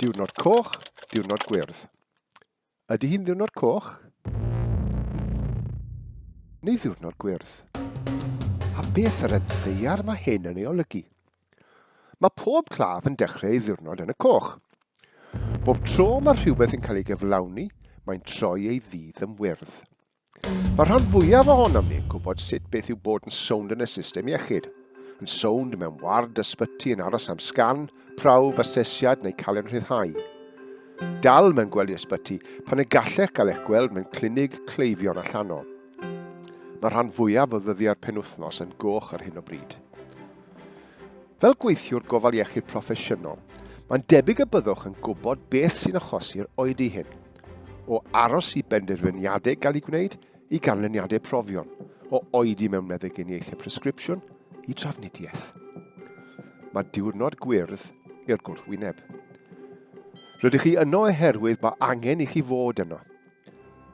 Diwrnod coch, diwrnod gwyrdd. Ydy hi'n ddiwrnod coch? Neu ddiwrnod gwyrdd? A beth yr ddeiar mae hyn yn ei olygu? Mae pob claf yn dechrau ei ddiwrnod yn y coch. Bob tro mae rhywbeth yn cael ei gyflawni, mae'n troi ei ddydd yn wyrdd. Mae'r rhan fwyaf ohonom ni'n gwybod sut beth yw bod yn sownd yn y system iechyd. Yn sownd mewn ward ysbyty yn aros am sgan, prawf, asesiad neu cael ein rhyddhau. Dal mewn gwely ysbyty pan y gallech gael eich gweld mewn clinig cleifion allanol. Mae'r rhan fwyaf o ddyddiau'r penwythnos yn goch ar hyn o bryd. Fel gweithiwr gofal iechyd proffesiynol, mae'n debyg y byddwch yn gwybod beth sy'n achosi'r oedi hyn. o aros i benderfyniadau gael eu gwneud i ganlyniadau profion, o oedi mewn meddyginiaethau presgripsiwn i trafnidiaeth. Mae diwrnod gwyrdd i'r gwrthwyneb. Rydych chi yno oherwydd mae angen i chi fod yno.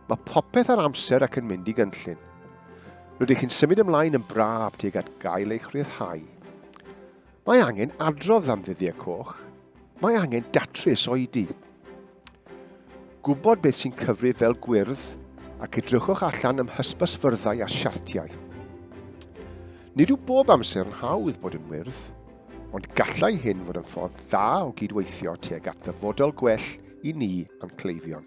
Mae popeth ar amser ac yn mynd i gynllun. Rydych chi'n symud ymlaen yn braf tuag at gael eich rhyddhau. Mae angen adrodd am ddyddiau coch. Mae angen datrys oedi. Gwybod beth sy'n cyfrif fel gwyrdd ac edrychwch allan ym hysbysfyrddau a siartiau. Nid yw bob amser yn hawdd bod yn wyrdd, ond gallai hyn fod yn ffordd dda o gydweithio tuag at ddyfodol gwell i ni a'n cleifion.